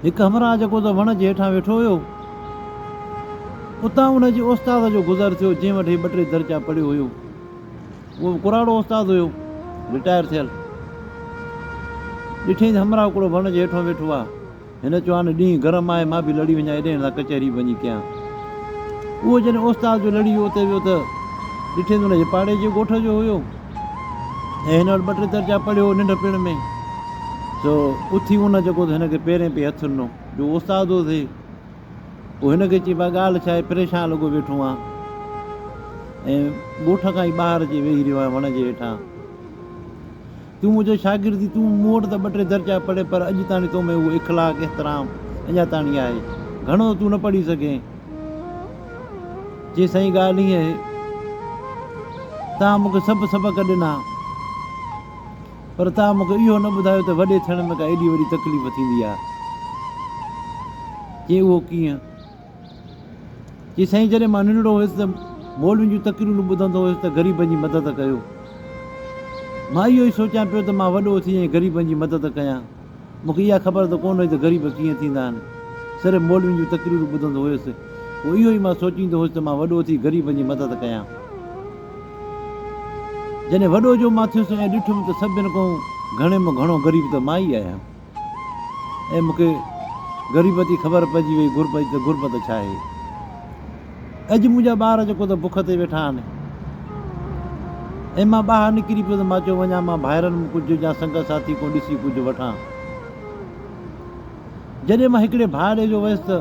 هڪ همراهه جيڪو ته وڻ جي هيٺان ويٺو هيو، اتان ان جي استاد جو گذر ٿيو، جنهن وٽ هي ٻه ٽي درجا پڙهيو هيو. اهو به ڪراڙو استاد هيو، رٽائر ٿيل. ڏٺينس همراهه هڪڙو وڻ جي هيٺون ويٺو آ. هن چيو، هاڻي ڏينهن گرم آهي، مان به لڙي وڃان ايڏي هنڌان ڪچهري به وڃي ڪيان. اهو جڏهن استاد جو لڙي ويو اتي ويو ته ڏٺينس ان جي پاڙي جي ڳوٺ جو هيو. ۽ هن وٽ ٻه ٽي درجا پڙهيو هو ننڍپڻ ۾ سو اٿي ان جيڪو هن کي پيرين پئي هٿ ڏنو جو استاد هو سي پوء هن کي چئي بئي ڳالهه ڇا آهي پريشان لڳو ويٺو آهان ۽ ڳوٺ کان ئي ٻاهر اچي ويهي رهيو آهيان وڻ جي هيٺان تون منهنجو شاگرد ٿي تون مون وٽ ته ٻه ٽي درجا پڙهي پر اڄ تاڻي تو ۾ اهو اخلاق احترام اڃا تاڻي آهي گهڻو تون نه پڙهي سگهين چي سائين ڳالهه هيء آهي، توهان مون کي سڀ سبق ڏنا، پر توهان مون کي اهو نه ٻڌايو ته وڏي ٿيڻ ۾ ڪا ايڏي وڏي تڪليف ٿيندي آهي. چي اهو ڪيئن؟ چي سائين جڏهن مان ننڍڙو هيس ته مولوين جون تقريرون ٻڌندو هيس ته غريبن جي مدد ڪيو. مان اهو ئي سوچيان پيو ته مان وڏو ٿي ۽ غريبن جي مدد ڪيان. مون کي اها خبر ته ڪونه هئي ته غريب ڪيئن ٿيندا آهن. صرف مولوين جون تقريرون ٻڌندو هيس. پوء اهو ئي مان سوچيندو هيس ته مان وڏو ٿي غريبن جي مدد ڪيان. جڏهن وڏو جو مان ٿيس ۽ ڏٺم ته سڀني کان گهڻي ۾ گهڻو غريب ته مان ئي آهيان ۽ مون کي غريبت جي خبر پئجي وئي، غربت جي ته غربت ڇا آهي. اڄ منهنجا ٻار جيڪو ته بک تي ويٺا آهن. ۽ مان ٻاهر نڪري پيو ته مان چيو وڃان مان ڀائرن م ڪجهه جا سنگت ساٿي ڪو ڏسي ڪجهه وٺان. جڏهن مان هڪڙي ڀاء ڏي جو ويس ته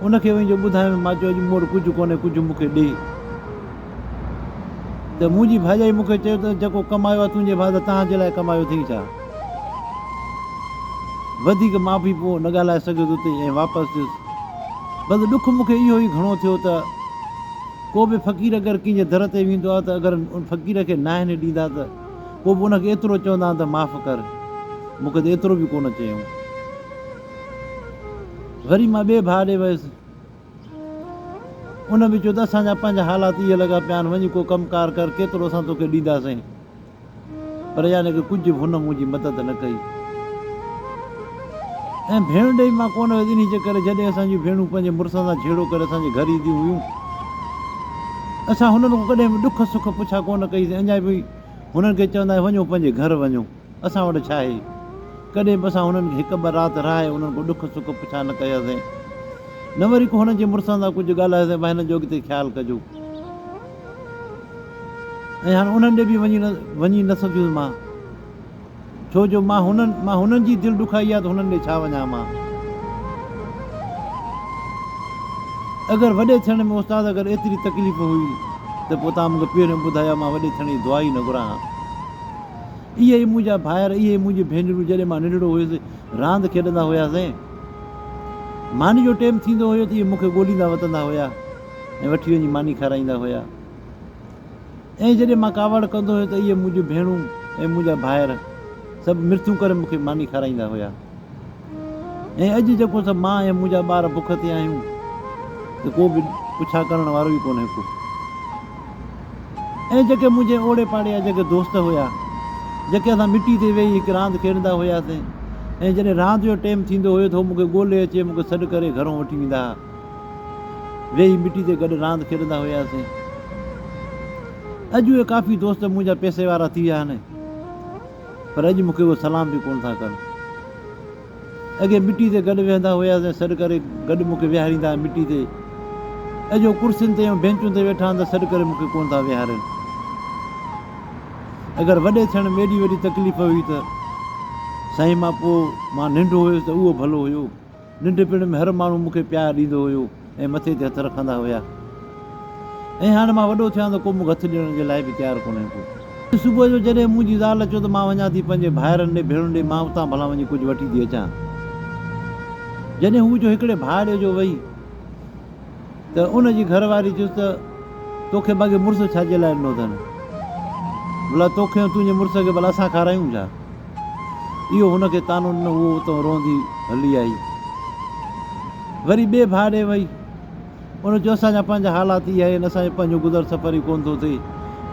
ان کي وڃي جو ٻڌايم مان چيو اڄ مون وٽ ڪجهه ڪونهي ڪجهه مون کي ڏي. ته منهنجي ڀائجائي مون کي چيو ته جيڪو ڪمايو آهي تنهنجي ڀاء ته تهان جي لاء ڪمايو اٿئي ڇا؟ وڌيڪ مان به پوء نه ڳالهائي سگهيس اتي ۽ واپس ويس. بس ڏک مون کي اهو ئي گهڻو ٿيو ته ڪو به فقير اگر ڪنهن جي در تي ويندو آهي ته اگر ان فقير کي ناهني ڏيندا ته پوء به ان کي ايترو چوندا آهن ته معاف ڪر. مون کي ته ايترو به ڪونه چيائون. وري مان ٻئي ڀاء ڏي ويس. ان به چيو ته اسان جا پنهنجا حالات اهي لڳا پيا آهن وڃي ڪو ڪم ڪار ڪر ڪيترو اسان توکي ڏينداسين. پر يعني ڪه ڪجهه به هن منهنجي مدد نه ڪئي ۽ ڀيڻ ڏي مان ڪونه ويس انهي جي ڪري جڏهن اسان جون ڀيڻون پنهنجي مڙسن سان جهيڙو ڪري اسان جي گهر اينديون هيون اسان هنن کان ڪڏهن به ڏک سک پڇا ڪونه ڪئي سين اڃا به هنن کي چوندا آهيون وڃو پنهنجي گهر وڃو اسان وٽ ڇا آهي ڪڏهن به اسان هنن کي هڪ ٻه رات رهائي هنن کان ڏک سک پڇا نه ڪيا سين نه وري ڪو هنن جي مڙسن سان ڪجهه ڳالهايو سين ڀاء هنن جو اڳتي خيال ڪجو. ۽ هاڻ انهن ڏي به وڃي نه سگهيس مان، ڇو جو مان هنن مان هنن جي دل ڏکائي آ ته هنن ڏي ڇا وڃان مان. اگر وڏي ٿيڻ ۾ استاد اگر ايتري تڪليف هئي ته پوء توهان مون کي پهريون ٻڌايو ها مان وڏي ٿيڻ جي دعا ئي نه گهران ها. اهي ئي منهنجا ڀائر اهي ئي منهنجون ڀينرون جڏهن مان ننڍڙو هيس راند کيڏندا هياسين. ماني جو ٽيم ٿيندو هيو ته اهي مون کي ڳوليندا وتندا هيا. ۽ وٺي وڃي ماني کارائيندا هيا ۽ جڏهن مان ڪاوڙ ڪندو هيم ته اهي منهنجون ڀيڻون ۽ منهنجا ڀائر سڀ مرٿيون ڪري مون کي ماني کارائيندا هيا ۽ اڄ جيڪو ته مان ۽ منهنجا ٻار بک تي آهيون ته ڪو به پڇا ڪرڻ وارو ئي ڪونهي ڪو ۽ جيڪي منهنجي اوڙي پاڙي جا جيڪي دوست هيا جيڪي اسان مٽي تي ويهي هڪ راند کيڏندا هياسين ۽ جڏهن راند جو ٽيم ٿيندو هيو ته هو مون کي ڳولي اچي مون کي سڏ ڪري گهرون وٺي ويندا هيا ويهي مٽي تي گڏ راند کيڏندا هياسين. اڄ اهي ڪافي دوست منهنجا پئسي وارا ٿي ويا آهن پر اڄ مون کي اهي سلام به ڪونه ٿا ڪن. اڳي مٽي تي گڏ ويهندا هياسين سڏ ڪري گڏ مون کي ويهاريندا ها مٽي تي. اڄ اهي ڪرسين تي ۽ بينچون تي ويٺا آهن ته سڏ ڪري مون کي ڪونه ٿا ويهارين. اگر وڏي ٿيڻ ۾ ايڏي وڏي تڪليف هئي ته سائين مان پوء مان ننڍو هيس ته اهو ڀلو هيو. ننڍپڻ ۾ هر ماڻهو مون کي پيار ڏيندو هيو ۽ مٿي تي هٿ رکندا هيا ۽ هاڻي مان وڏو ٿيو آهيان ته ڪو مون کي هٿ ڏيڻ جي لاء به تيار ڪونهي ڪو. اڄ صبح جو جڏهن منهنجي زال چيو ته مان وڃان ٿي پنهنجي ڀائرن ڏي ڀيڻن ڏي مان اتان ڀلا وڃي ڪجهه وٺي ٿي اچان جڏهن هو جو هڪڙي ڀاء ڏي جو وئي ته ان جي گهر واري چيس ته توکي بگي مرس ڇا جي لاء ڏنو اٿن ڀلا توکي ۽ تنهنجي مرس کي ڀلا اسان کارايون ڇا. اهو هن کي طعنو ڏنو، هوء اتان روئندي هلي آئي. وري ٻئي ڀاء ڏي وئي. ان چيو، اسان جا پنهنجا حالات اهي آهن، اسان جو پنهنجو گذر سفر ئي ڪونه ٿو ٿئي.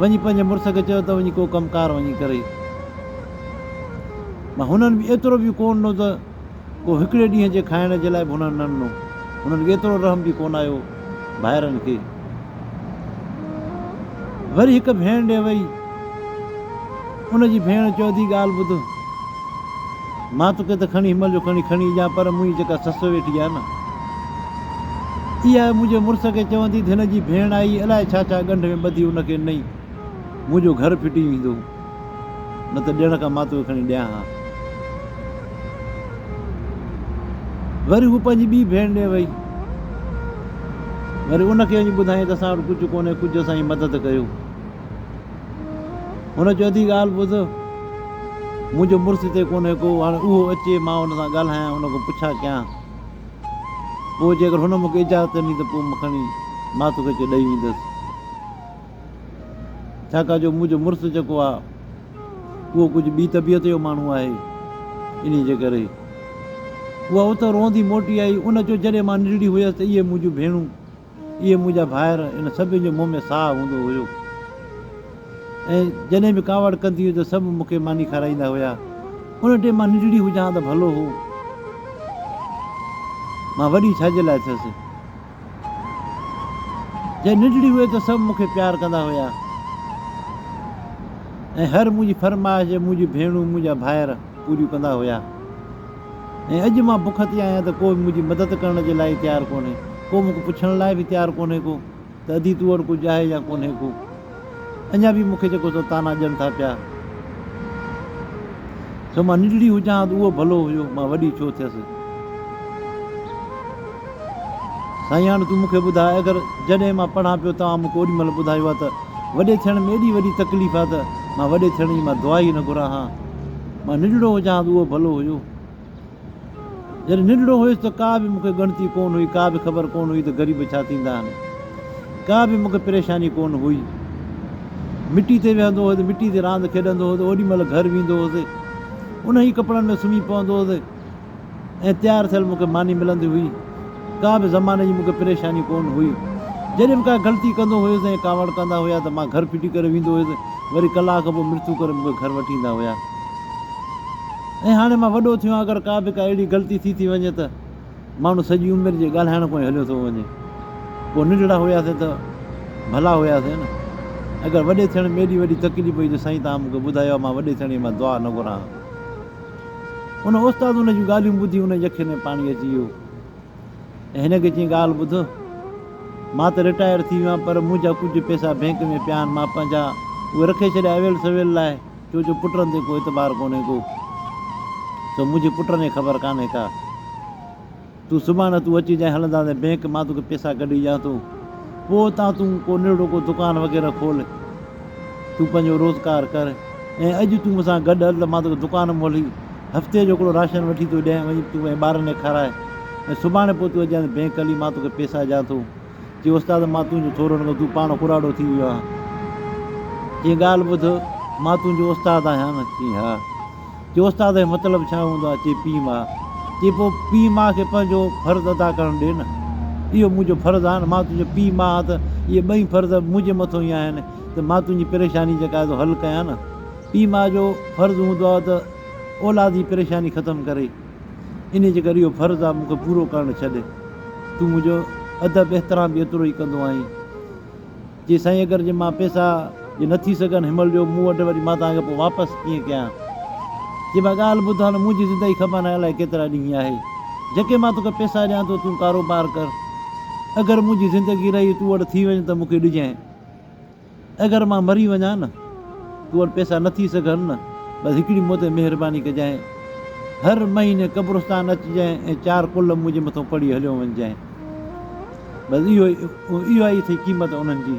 وڃي پنهنجي مڙس کي چئو ته وڃي ڪو ڪم ڪار وڃي ڪري. مان هنن ۾ ايترو به ڪونه ڏنو ته. ڪو هڪڙي ڏينهن جي کائڻ جي لاء به هنن نه ڏنو. هنن ايترو رحم به ڪونه آيو ڀائرن کي. وري هڪ ڀيڻ ڏي وئي. ان جي ڀيڻ چيو ڌي ڳالهه ٻڌ. مان توکي ته کڻي هنمهل جو کڻي کڻي اچان پر منهنجي جيڪا سس ويٺي آهي نه اها منهنجي مڙس کي چوندي ته هن جي ڀيڻ آئي الائي ڇا ڇا ڳنڍ ۾ ٻڌي ان کي ڏنئي منهنجو گهر ڦٽي ويندو. نه ته ڏيڻ کان مان توکي کڻي ڏيان ها. وري هوء پنهنجي ٻي ڀيڻ ڏي وئي. وري ان کي وڃي ٻڌائين ته اسان وٽ ڪجهه ڪونهي، ڪجهه اسان جي مدد ڪيو. هن چيو ادي ڳالهه ٻڌ، منهنجو مڙس هتي ڪونهي ڪو، هاڻي اهو اچي مان هن سان ڳالهايان، هن کان پڇا ڪيان، پوء جيڪر هن مون کي اجازت ڏني ته پوء مان کڻي مان توکي اچي ڏئي ويندس. ڇاڪاڻ جو منهنجو مڙس جيڪو آهي اهو ڪجهه ٻي طبيعت جو ماڻهو آهي انهي جي ڪري اها اتان روئندي موٽي آئي ان چيو جڏهن مان ننڍڙي هيس ته اهي منهنجون ڀيڻون اهي منهنجا ڀائر ان سڀني جي منهن ۾ ساهه هوندو هيو ۽ جڏهن به ڪاوڙ ڪندي هئي ته سڀ مون کي ماني کارائيندا هيا ان ٽيم مان ننڍڙي هجان ته ڀلو هو مان وڏي ڇا جي لاء ٿيس جڏهن ننڍڙي هئي ته سڀ مون کي پيار ڪندا هيا ۽ هر منهنجي فرمائش منهنجون ڀيڻون منهنجا ڀائر پوريون ڪندا هيا ۽ اڄ مان بک تي آهيان ته ڪو به منهنجي مدد ڪرڻ جي لاء تيار ڪونهي ڪو مون کي پڇڻ لاء به تيار ڪونهي ڪو ته ادي تو وٽ ڪجهه آهي يا ڪونهي ڪو اڃا به مون کي جيڪو سو طعنا ڏين ٿا پيا، سو مان ننڍڙي هجان ها ته اهو ڀلو هيو، مان وڏي ڇو ٿيس؟ سائين هاڻ تون مون کي ٻڌاء، اگر جڏهن مان پڙهان پيو، توهان مون کي اوڏي مهل ٻڌايو ها ته وڏي ٿيڻ ۾ ايڏي وڏي تڪليف آهي ته مان وڏي ٿيڻ جي مان دعا ئي نه گهران ها، مان ننڍڙو هجان ها ته اهو ڀلو هيو. جڏهن ننڍڙو هيس ته ڪا به مون کي ڳڻتي ڪونه هئي، ڪا به خبر ڪونه هئي ته غريب ڇا ٿيندا آهن. ڪا به مون کي پريشاني ڪونه هئي. مٽي تي ويهندو هوس، مٽي تي راند کيڏندو هوس، اوڏي مهل گهر ويندو هوس، انهن ئي ڪپڙن ۾ سمهي پوندو هوس ۽ تيار ٿيل مون کي ماني ملندي هئي. ڪا به زماني جي مون کي پريشاني ڪونه هئي. جڏهن به ڪا غلطي ڪندو هيس ۽ ڪاوڙ ڪندا هيا ته مان گهر ڦٽي ڪري ويندو هيس، وري ڪلاڪ کان پوء مرتو ڪري مون کي گهر وٺي ايندا هيا. ۽ هاڻي مان وڏو ٿيو آهيان اگر ڪا به ڪا اهڙي غلطي ٿي ٿي وڃي ته ماڻهو سڄي عمر جي ڳالهائڻ کان ئي هليو ٿو وڃي پوء ننڍڙا هياسين ته ڀلا هياسين نه اگر وڏي ٿيڻ ۾ ايڏي وڏي تڪليف هئي جو سائين توهان مون کي ٻڌايو آهي مان وڏي ٿيڻ جي مان دعا نه گهران ها ان استاد ان جون ڳالهيون ٻڌي ان جي اکين ۾ پاڻي اچي ويو ۽ هن کي چيائين ڳالهه ٻڌ مان ته رٽائر ٿي ويو آهيان پر منهنجا ڪجهه پئسا بئنڪ ۾ پيا آهن مان پنهنجا اهي رکي ڇڏيا اويل سويل لاء چو جو پٽن تي ڪو اعتبار ڪونهي ڪو سو منهنجي پٽن کي خبر ڪانهي ڪا تون سڀاڻي تون اچي جانء هلنداسين بينڪ مان توکي پيسا ڪڍي ڏيان ٿو پوء اتان تون ڪو ننڍڙو ڪو دڪان وغيره کول تون پنهنجو روزگار ڪر ۽ اڄ تون مون سان گڏ هل ته مان توکي دڪان مولي هفتي جو هڪڙو راشن وٺي ٿو ڏيان وڃي تون پنهنجي ٻارن کي کارائي ۽ سڀاڻي پوء تون اچ جانء بينڪ هلي مان توکي پيسا ڏيان ٿو چيو استاد ماتون جو ٿورڙ ۾ تون پاڻ ڪراڙو ٿي ويو آهين چيو ڳالهه ٻڌ مان تنهنجو استاد آهيان نه چيو ها چيو استاد جو مطلب ڇا هوندو آهي چيو پيء ماء چيو پوء پيء ماء کي پنهنجو فرض ادا ڪرڻ ڏي نه اهو منهنجو فرض آهي نه مان تنهنجو پيء ماء آهيان ته اهي ٻئي فرض منهنجي مٿو ئي آهن ته مان تنهنجي پريشاني جيڪا آهي سو حل ڪيان نه پيء ماء جو فرض هوندو آهي ته اولاد جي پريشاني ختم ڪري انهيء جي ڪري اهو فرض آ مون کي پورو ڪرڻ ڇڏ. تون منهنجو ادب احترام به ايترو ئي ڪندو آهين. چي سائين اگر جي مان پئسا جي نه ٿي سگهن هن مهل ڏيو مون وٽ وري مان توهان کي پوء واپس ڪيئن ڪيان. چي مان ڳالهه ٻڌ هاڻ منهنجي زندگي کپان هاڻي الائي ڪيترا ڏينهن آهي جيڪي مان توکي پئسا ڏيان ٿو تون ڪاروبار ڪر اگر منهنجي زندگي رهي تون وڏ ٿي وڃ ته مون کي ڏجانء. اگر مان مري وڃان نه تو وٽ پئسا نه ٿي سگهن نه بس هڪڙي مون تي مهرباني ڪجانء هر مهيني قبرستان اچجانء ۽ چار ڪلم منهنجي مٿو پڙهي هليو وڃجانء بس اهو اهو ئي اٿئي قيمت انهن جي.